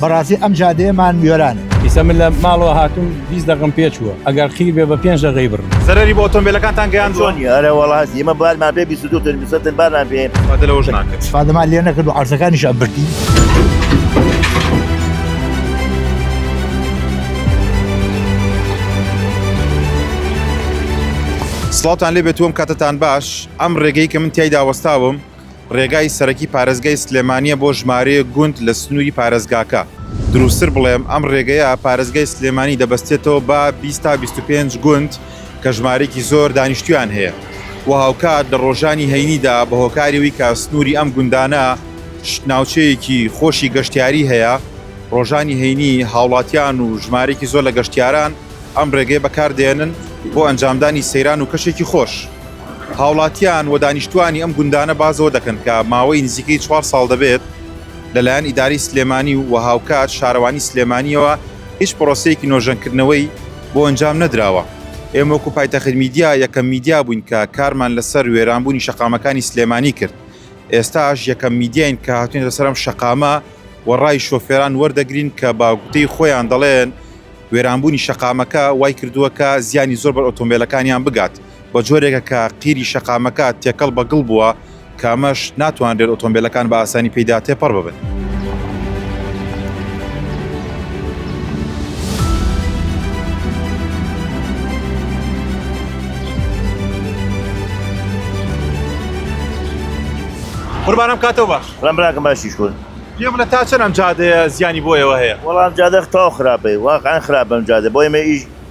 بەڕاستی ئەم جادەیەمان وێرانە. ئیسە من لە ماڵەوە هاتووم بیست دەقم پێ چووە ئەگەر قیر بێ بە پێنج دەقەی بڕم. زەرەری بۆ ئۆتۆمبێلەکانتان گەیاندووە؟ چۆن نییە ئەرێ وەڵا هەستی ئێمە بارمان پێ بیست و دوو تۆن بیست و سەد تۆن بارمان پێ. ئیسفادە لەوەش ناکرد. ئیسفادەمان لێ نەکرد و عەرزەکانیشیان بردین. سڵاوتان لێ بێت و ئەم کاتەتان باش. ئەم ڕێگەی کە من تیایدا وەستاوم، ڕێگای سەرەکی پارێزگای سلێمانییە بۆ ژمارەیەک گوند لە سنووری پارێزگاکە، دروستتر بڵێم ئەم ڕێگەیە پارێزگای سلێمانی دەبەستێتەوە بە بیست تا بیست و پێنج گوند کە ژمارەیەکی زۆر دانیشتوویان هەیە و هاوکات لە ڕۆژانی هەینیدا بە هۆکاری ئەوەی کە سنووری ئەم گوندانە ناوچەیەکی خۆشی گەشتیاری هەیە ڕۆژانی هەینی هاوڵاتیان و ژمارەیەکی زۆر لە گەشتیاران ئەم ڕێگەیە بەکاردێنن بۆ ئەنجامدانی سەیران و کەشێکی خۆش. هاوڵاتیان و دانیشتووانی ئەم گوندانە باس لەوە دەکەن کە ماوەی نزیکەی چوار ساڵ دەبێت لەلایەن ئیدارەی سلێمانی و هاوکات شارەوانی سلێمانیەوە هیچ پرۆسەیەکی نۆژەنکردنەوەی بۆ ئەنجام نەدراوە. ئێمە وەکو پایتەخت میدیا یەکەم میدیا بووین کە کارمان لەسەر وێرانبوونی شەقامەکانی سلێمانی کرد، ئێستاش یەکەم میدیاین کە هاتوینەتە سەر ئەم شەقامە و ڕای شۆفێران وەردەگرین کە بە گوتەی خۆیان دەڵێن وێرانبوونی شەقامەکە وایکردووە کە زیانی زۆر بەر ئۆتۆمبێلەکانیان بگات. بە جۆرێکە کە قیری شەقامەکە تێکەڵ بە گڵ بووە کە ئەمەش ناتوانرێت ئۆتۆمبیلەکان بە ئاسانی پێیدا تێپەڕ ببن. قوربانم کاتەوە باش ڕم براکەم باشیش کورد پێ بڵێ تا چەند ئەم جادەیە زیانی بۆیەوە هەیە وەڵام جادە تاو خراپەی واقعا خراپم جادە بۆی مە ئیش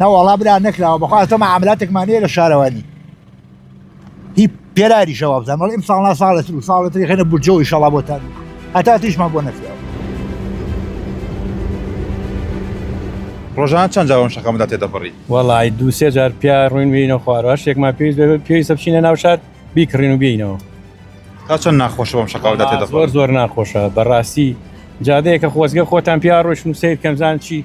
نەوەڵا برا نەکراوە بەخوا ئەتۆ مەعاملاتێکمان هەیە لە شارەوانی هی پێراری شەوا بزان بەڵ ئیم ساڵنا ساڵێت و ساڵێت خێنە بجۆ ئیشەڵا بۆتان هەتا تیشمان بۆ نەکراوە ڕۆژان چەند جاوەم شەکەمدا تێدەپەڕی وەڵی دو سێ جار پیا ڕوین بینە خوارەوە شتێکمان پێویست پێویستە بچینە ناو شار بیکڕین و بینەوە تا چەند ناخۆشە بەم شەکەوەدا تێدەپەڕ زۆر ناخۆشە بەڕاستی جادەیەکە خۆزگە خۆتان پیا ڕۆشن و سیر کەمزان چی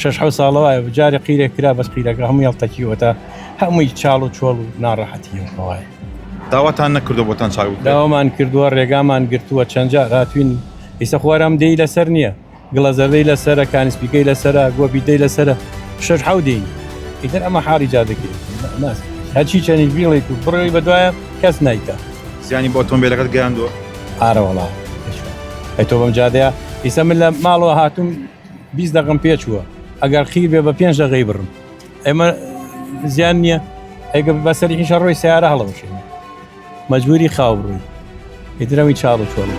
شەش حەوت ساڵە وایە بوو جارێ قیرێک کرا بەس قیرەکە هەموو هەڵتەکیوەتە هەمووی چاڵ و چۆڵ و ناڕەحەتی وایە داواتان نەکردو بۆتان چاک بکرێت. داوامان کردووە ڕێگامان گرتووە چەند جار هاتوین ئیسە خوارم دێی لەسەر نییە گڵە زەردەی لەسرە کانسپیکەی لەسرە گۆپی دەی لەسرە شەش حەو دێین ئیتر ئەمە حاڵی جادەکەی ناس هەرچی چەنی بیڵێک و بڕێی بەدوایە کەس نایکە زیانی بۆ ئۆتۆمبیلەکەت گەیاندووە ئارەوەڵا ئەی تۆ بەم جادەیە ئیسە من لە ماڵەوە هاتووم بیست دەقم پێ چووە ئەگەر قیر بێ بە پێنج دەقەی بڕم ئێمە زیان نییە ئەگە بەسەری هیچە ڕۆی سیارە هەڵەوشێن مەجبوری خاو بڕووی ئیدرەوی چاڵ و چۆڵی